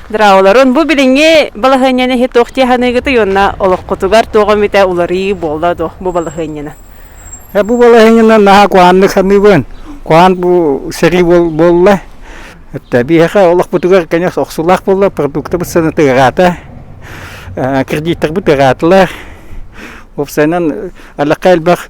Драуларын бу билиҥҥи балаһыанньаны иһи туох тиэханыгытый уонна олоххутугар туох эмитэ уларыы буолла дуо бу балаһыанньаны? Э, бу балаһыанньаны наһаа куһааннык саныыбын. Куһаан бу сэрии буолла. Э, биһиэхэ олохпутугар кэнэс охсуулаах буолла, продуктабыт саната ыраата, э, кредиттербит ыраатылар. Уопсайынан, аллахха элбэх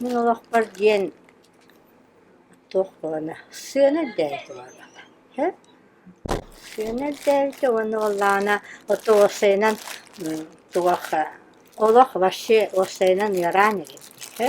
Мин олохпор диэн туох буолана, сыана үрдээбитэ буоллаҕа, һэ? Сыана үрдээбитэ уонна уоллаана ото уопсайынан туох олох вообще уопсайынан ыараан эбит, һэ?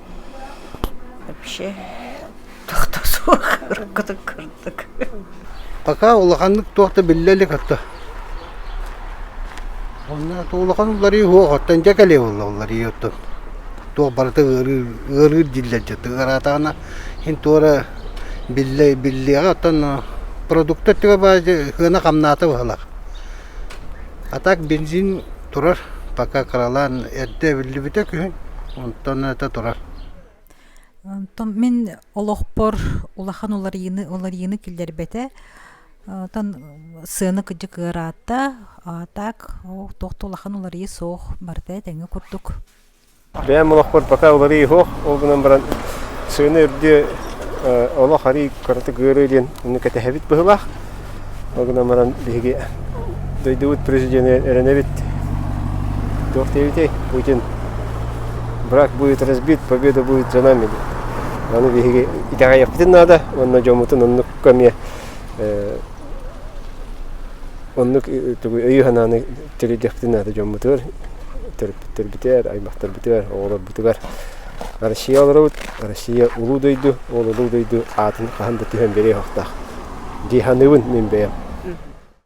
вообще тохто суох уруккутун курдук пока улаханнык туох да биллэ илик отто онно улахан уларыы суох оттон дьэ кэлиэ буолла уларыы оттон туох барыта ыарыы ыарыыр диллэр дьэ тыгараатаҕына син туора биллэ биллиэҕэ оттон продукты өттүгэр баар дьэ сыана хамнаата быһалах а так бензин турар. Пока кыралаан эрдэ эбиллибитэ күһүн, онтон это турар. Онтон мин олохпор улахан уларыйыыны уларыйыыны киллэрбэтэ. Оттон сыаны кыдьык ыараатта. А так туох да улахан уларыйыы суох барыта этэҥҥэ курдук. Бэйэм олохпор пока уларыы суох, ол гынан баран сыана үрдүө олох арыый кыратык ыарыы диэн ону кэтэһэбит быһылаах. Ол гынан баран биһиги дойдубут президенэ эрэнэбит. Туох диэбитэй? Путин брак будет разбит, победа будет за нами. Ону биһиги итэҕэйиэхпитин наада уонна дьоммутун оннук эмиэ оннук өйү санааны Тэрийдэхпитин наада дьоммутугар, төрөппүттэрбитигэр, аймахтарбытыгар, оҕолорбутугар Россияларыбыт Россия улуу дойду, ол улуу дойду аатын хаһан да түһэн бэриэ суохтаах. Дьиһаныыбын мин бэйэм.